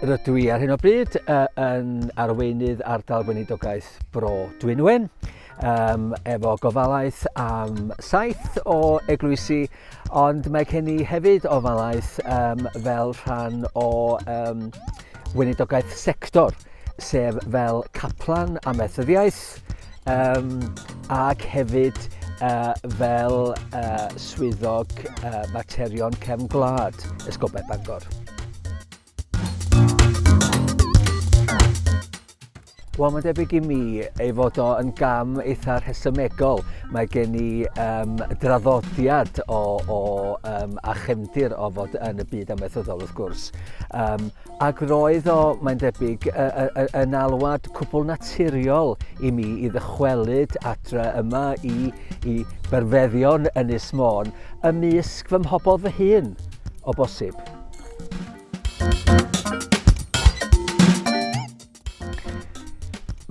Rydw i ar hyn o bryd uh, yn arweinydd ardal weinidogaeth Bro Dwynwen um, efo gofalaeth am saith o eglwysi Ond mae gen i hefyd ofalaeth um, fel rhan o um, weinidogaeth sector, sef fel caplan a methyddiaeth, um, ac hefyd uh, fel uh, swyddog uh, materion cefn gwlad Esgobau Bangor. Wel, mae'n debyg i mi ei fod o yn gam eitha rhesymegol. Mae gen i um, draddodiad o, o um, a chefndir o fod yn y byd amaethyddol, wrth gwrs. Um, ac roedd o, mae'n debyg, yn alwad cwbl naturiol i mi i ddychwelyd adre yma i, i berfeddion Ynys Môn ymysg fy mhobl fy hun, o bosib.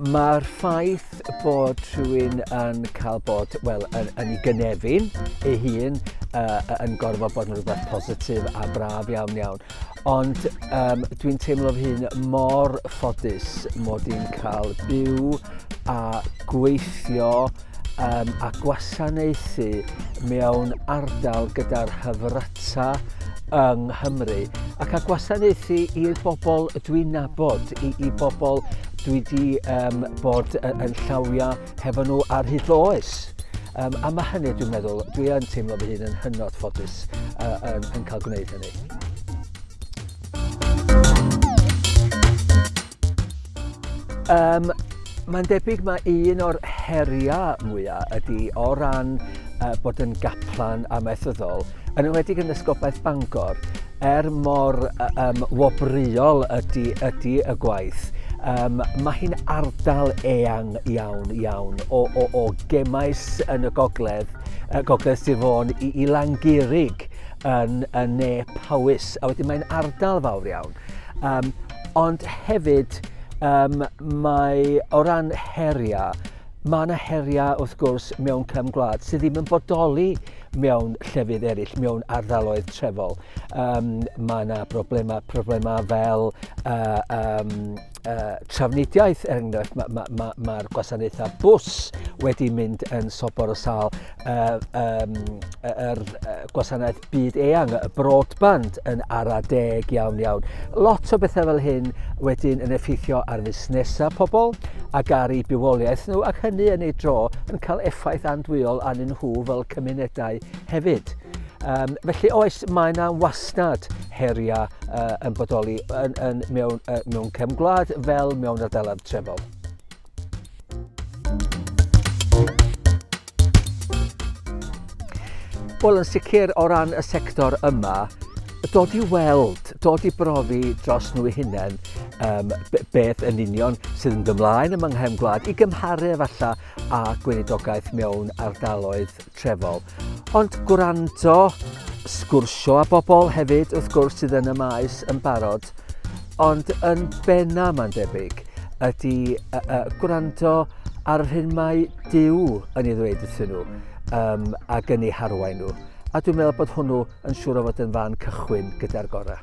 Mae'r ffaith bod rhywun yn cael bod, wel, yn, yn ei gynefin ei hun, uh, yn gorfod bod yn rhywbeth positif a braf iawn iawn. Ond um, dwi'n teimlo fy hun mor ffodus mod i'n cael byw a gweithio um, a gwasanaethu mewn ardal gyda'r hyfryta yng Nghymru ac a gwasanaethu i'r bobl dwi'n nabod, i, i bobl dwi wedi um, bod yn llawiau hefo nhw ar hyd oes. Um, a mae hynny, dwi'n meddwl, dwi yn teimlo fy hun yn hynod ffodus uh, yn, yn cael gwneud hynny. Um, Mae'n debyg mae un o'r heriau mwyaf ydy o ran uh, bod yn gaplan amaethyddol, yn ymwedig yn ysgobaeth Bangor, er mor um, wobreuol ydy, ydy y gwaith, um, mae hi'n ardal eang iawn, iawn o, o, o gemais yn y gogledd, y gogledd Sir Fôn i, i Langurig yn, yn ne Powys, a wedyn mae'n ardal fawr iawn. Um, Ond hefyd, um, mae o ran heriau, mae yna heriau wrth gwrs mewn cefn gwlad sydd ddim yn bodoli mewn llefydd eraill, mewn ardaloedd trefol. Um, mae yna broblemau, problemau fel uh, um, uh, trafnidiaeth, er enghraifft, mae'r ma, ma, ma gwasanaethau bus wedi mynd yn sobor o sal. Uh, um, er, uh, gwasanaeth byd eang, y broadband yn ara deg iawn iawn. Lot o bethau fel hyn wedyn yn effeithio ar fusnesau pobl ac ar ei bywoliaeth nhw ac hynny yn ei dro yn cael effaith andwyol arnyn nhw fel cymunedau hefyd. Um, felly oes, mae yna wasnad heriau uh, yn bodoli yn, yn, mewn, uh, mewn cefn gwlad fel mewn ardaloedd trefol. Wel, yn sicr o ran y sector yma, dod i weld, dod i brofi dros nhw i hunain um, beth yn union sydd yn gymlaen ym Manghem Gwlad i gymharu efallai â gweinidogaeth mewn ardaloedd trefol. Ond gwrando, sgwrsio â bobl hefyd, wrth gwrs, sydd yn y maes yn barod. Ond yn benna, mae'n debyg, ydy uh, uh, gwrando ar yr hyn mae Dyw yn ei ddweud wrthyn nhw um, ac yn ei harwain nhw. A dwi'n meddwl bod hwnnw yn siŵr o fod yn fan cychwyn gyda'r gorau.